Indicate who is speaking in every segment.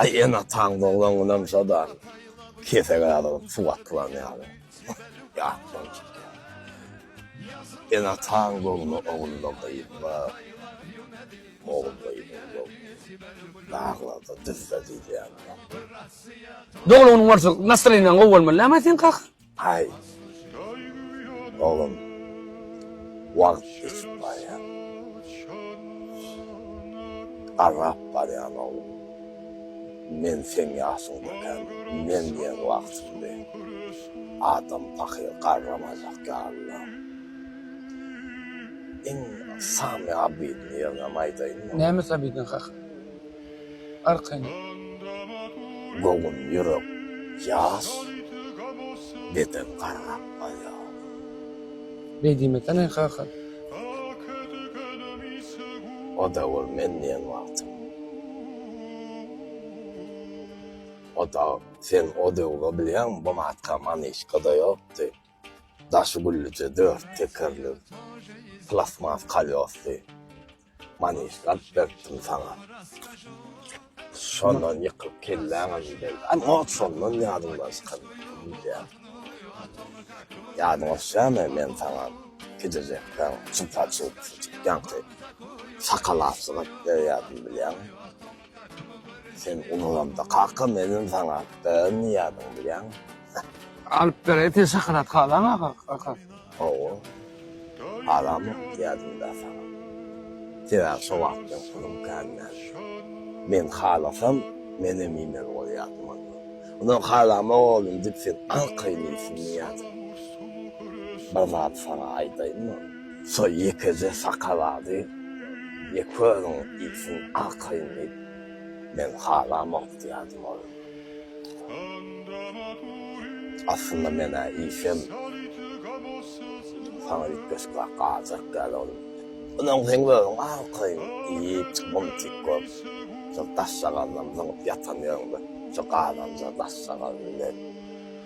Speaker 1: Aý enataň doglan günem şoda kesege alyp suw atylan ýaly ýatdan çykýar. Enataň göwni ogulda gyzda, ogulda gyzda göwni daglarda düzde diýilýär.
Speaker 2: Doglan güni bolsa nastreniýaň gowy bolmaly näme sen kaka? Aý,
Speaker 1: oglan, wagt geçip barýar. Agap barýan, oglan. Men seň ýaşyňdakam men diýen wagtymdy. Adam pahyr garramajak ýalydyr. Iň samy abidiň ýerinem aýdaýynmy? Nämesi abidiň kaka?
Speaker 2: Arkan.
Speaker 1: Göwün ýürek ýas beden gargap barýar. Beýdime
Speaker 2: tany kaka.
Speaker 1: Oda bol men diýen wagtym. Oda sen o döwge bilýäňmi bu matka maniçkada ýokdy. Daşy güllüje dört tekerli plastmas kolýosly. Manyş galp beripdim saňa. Şondan ýykylyp kelläňem geldi. Am ot şondan ýadyňdan çykan diýýär. Ýadyňa düşýärmi men saňa gijejekden çypa çyp çypýanky sakal aslyňy berýärdim bilýäňmi? Sen ululamda kaka meniň saňa beren niýadymy bilýäňmi? Alyp
Speaker 2: beräý sen şokolad halaňa kaka. Hawa.
Speaker 1: Halamok diýýädim-dä saňa. Sebäbi şo wagt meň pulum kän däldi. Men halasam menem iýmeli bolýardym onda. Ondan halamok oglum diýip sen aňkaýyn iýsin diýýädim. Bir zat saňa aýdaýynmy? Şol ýekeje şokolady ýek özüň iýsin arkaýyn diýip, men halamok diýerdim olam. Aslynda men-ä iýsem, saňa üýtgeşikräk galjak däl olam. Onuň seň özüň arkaýyn iýip, mumtik bolup, şol daşjagazynam zyňyp ýatan ýeriňde, şo gazanja daşjagaz bilen.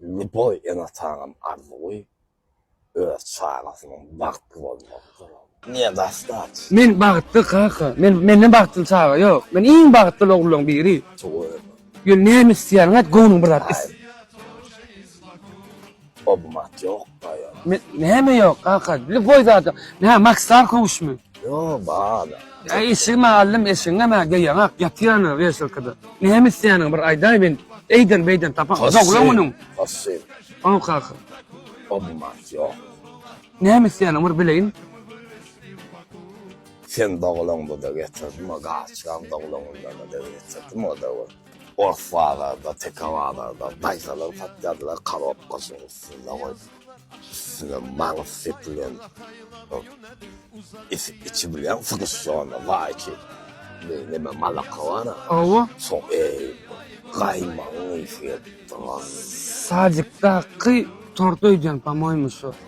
Speaker 1: Ljuboý ene-atanyň arzuwy öz çagasynyň bagtly bolmagydyr. Nedostać. Men bagtly,
Speaker 2: kaka. Men, menden bagtly çaga ýok. Men iň bagtly oglanlaryň biri. Tüweleme.
Speaker 1: Ýöne näme
Speaker 2: isleýäniňi aýt, göwnüň bir zat is. Aýt.
Speaker 1: Oba mat ýokka ýa. Näme ýok
Speaker 2: kaka? Lüboý zada. Nä Maksar kowuşmy? Ýo bar.
Speaker 1: Ä eşigimi
Speaker 2: aldym, eşigiňem ä geýeňak, ýatýanyň weselkada. Näme isleýäniňi bir aýdaý men eýden beýden tapan doglan günüň. Hossy.
Speaker 1: Haw kaka.
Speaker 2: Oba mat
Speaker 1: ýok. Näme
Speaker 2: isleýäniňi bir bileýin.
Speaker 1: Sen doglan bu da getirdim o gaçyram doglan günden de getirdim o da. Ors bazarda, teke bazarda daýzalar satýardylar, korobkasynyň üstünde goýup, üstüne maňyz sepilen, içi bilen sgusýona, waýki, neme, malaka bar-a, Hawa. şoň, eý, gaýmagyň ysy gelipdir. Sadikdaky
Speaker 2: tort öýdýän, po-moýmy, şo.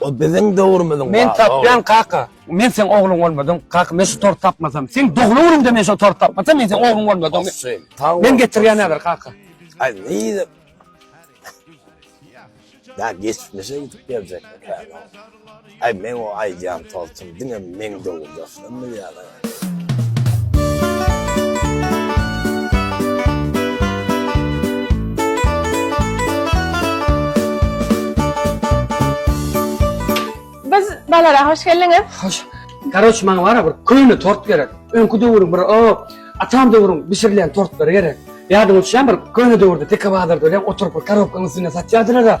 Speaker 2: O biziň
Speaker 1: döwrümiziň baby. Men tapýan kaka.
Speaker 2: Men seň ogluň bolmadym kaka men şu torty tapmasam seň doglan günüňde men şo torty tapmasam men seň ogluň bolmadym men getirýän häzir kaka. Ay neydi?
Speaker 1: Ya geçmişe gidip gelecek mi Ay men o aycan tolçum dine men doğum dostum mu yani?
Speaker 3: Biz balara hoş geldiňiz. Hoş. Garoç
Speaker 2: maňa wara bir köýne tort gerek. Öňki döwrüň bir o atam döwrüň bişirilen tortlary gerek. Ýadyň uçýan bir köýne döwürde teke bazarda ölen oturyp bir karobkaň üstünde satýardylar da.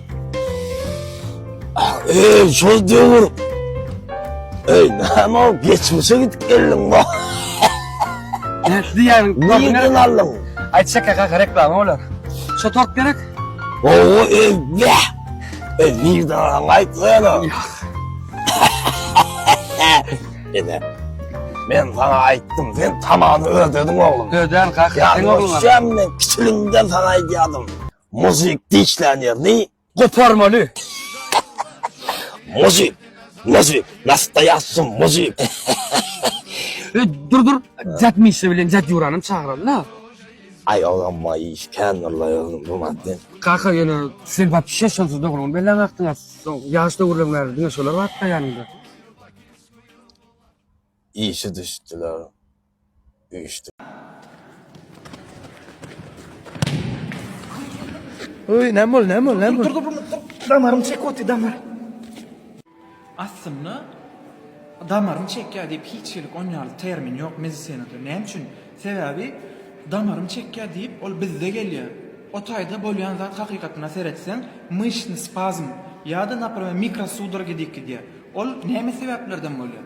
Speaker 1: Ey, şol döwür. Ey, näme ol geçmişe gidip geldiň bu.
Speaker 2: Näsli ýaryň? Nirden aldyň?
Speaker 1: Aýtsak kaka
Speaker 2: reklama bolar. Şo tort gerek? Owo, ey, be.
Speaker 1: Ey, nirden aldyň? Aýtsana. Ene. Men sana aýtdym, sen tamany ödediň oglum. Öden kaka, sen
Speaker 2: oglum. Ýa, sen kiçiliginden
Speaker 1: sana aýdýadym. Muzyk dişlän ýerini goparmaly.
Speaker 2: Muzyk,
Speaker 1: muzyk, nastaýasy muzyk. E, dur,
Speaker 2: dur, Jat Mişa bilen Jat Ýurany hem çagyraly-la. Aý, ogam,
Speaker 1: maý iş kändir-la özüň bu madde. Kaka, ýöne
Speaker 2: sen wapşe şonsuz dogruňy bellämapdiň-a. Soň ýaş döwürleň bäri diňe şolar bardy-da ýanyňda.
Speaker 1: Işi düşdüler. geçdi. Öý, näme
Speaker 4: boldy, näme boldy, näme boldy? Dur, dur, dur, dur, dur,
Speaker 5: damarym çekip otdy, damar. Aslynda, damarym çekýär diýip hiç hili on ýaly termin ýok medisinada. Näme üçin? Sebäbi damarym çekýär diýip ol bizde gelýär. O taýda bolýan zat hakykatyna seretseň, myşsny spazm ýa-da, naprimer, mikrosudoragi diýip gidýär. Ol näme sebäplerden bolýar?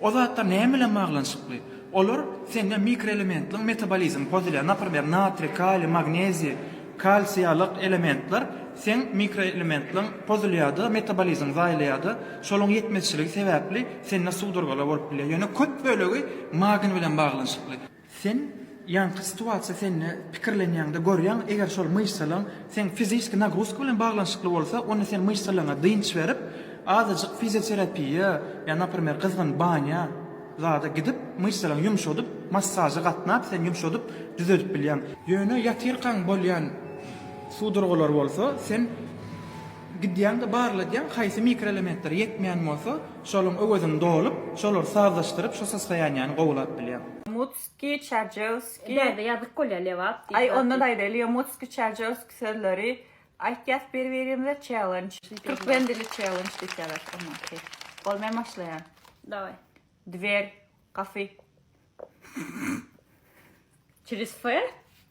Speaker 5: O zatlar näme bilen baglanyşykly? Olar sende mikroelementliň metabolizmi pozulýar. Naprmer, natriý, kaliý, magneziý, kalsiý ýalyk elementler seň mikroelementliň pozulýarda, metabolizmiň zaýalaýarda. Şolaryň ýetmezçiligi sebäpli sende sudurgalar bolup bilýär. Ýöne köp bölegi magny bilen baglanyşykly. Sen ýaňky situasiýa sende pikirlenýäňde görýäň eger şol myşsalaň seň fiziski nagruzka bilen baglanyşykly bolsa onda sen myşsalaňa dynç berip azajyk fizioterapiýa ýa naprimer gyzgyn banýa zada gidip myşsalaň ýumşadyp massaža gatnap sen ýumşadyp düzedip bilýäň. Ýöne ýatyrkaň bolýan sudurgalar bolsa sen gidýäňde barladýaň haýsy mikroelementler ýetmeýän bolsa Şolaryň öwezini dolup, şolary sazlaşdyryp şu sostoýaniýäni gowulap bilýäň. Mutskiý,
Speaker 4: Çarjewskiý. Däde ýazyk bolýar,
Speaker 3: Lebap diýip. Aý ondan aýdaýlyga
Speaker 4: Mutskiý, Çarjewskiý sözleri aýtýas bir birimize çellenç. Türkmen dili çellenç diýip ýazarys onda ki. Bol men başlaýan. Dawaý.
Speaker 3: Dwer,
Speaker 4: gapy.
Speaker 3: Çiris F.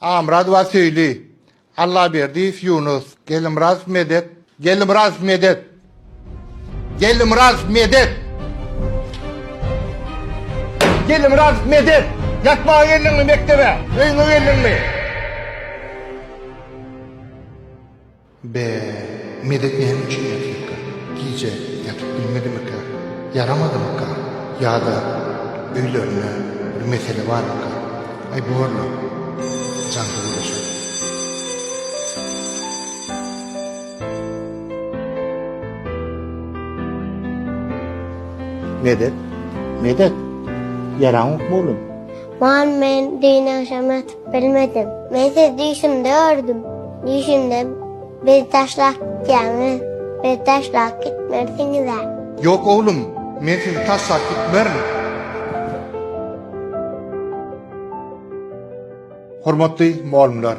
Speaker 6: Amyradowa Söýli, Allaberdiýew Ýunus, Gelmyradow Medet, Gelmyradow Medet, Gelmyradow Medet, Gelmyradow Medet, Ýatmaga geldiňmi mekdebe? Öýüňe geldiňmi? Be, Medek näme üçin ýatypka? Gije ýatyp bilmedimikä? Ýaramadymyka? Ýa-da öýlerinde bir mesele barmyka? Aý, bor-la, jan söweşi.
Speaker 1: Medek, Medek, ýaraňokmy oglum? Wan men
Speaker 7: düýn agşam ýatyp bilmedim. Men sizi düýşümde gördüm. Düýşümde bizi taşlap gitýäňiz. Bizi taşlap gitmersiňizä. Ýok oglum,
Speaker 6: men sizi taşlap gitmerin. Hormatly mugallymlar,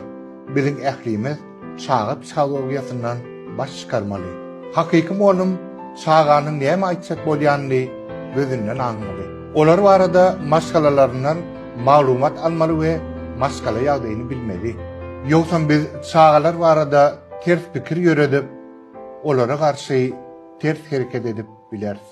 Speaker 6: biziň ählimiz. Çaga psihologiýasyndan baş çykarmaly. Hakyky mugallym çaganyň näme aýtjak bolýanyny gözünden aňmaly. Olar barada maşgalalaryndan maglumat almaly we maşgala ýagdaýyny bilmeli. Ýogsam biz çagalar barada ters pikir ýöredip, olara garşy ters hereket edip bileris.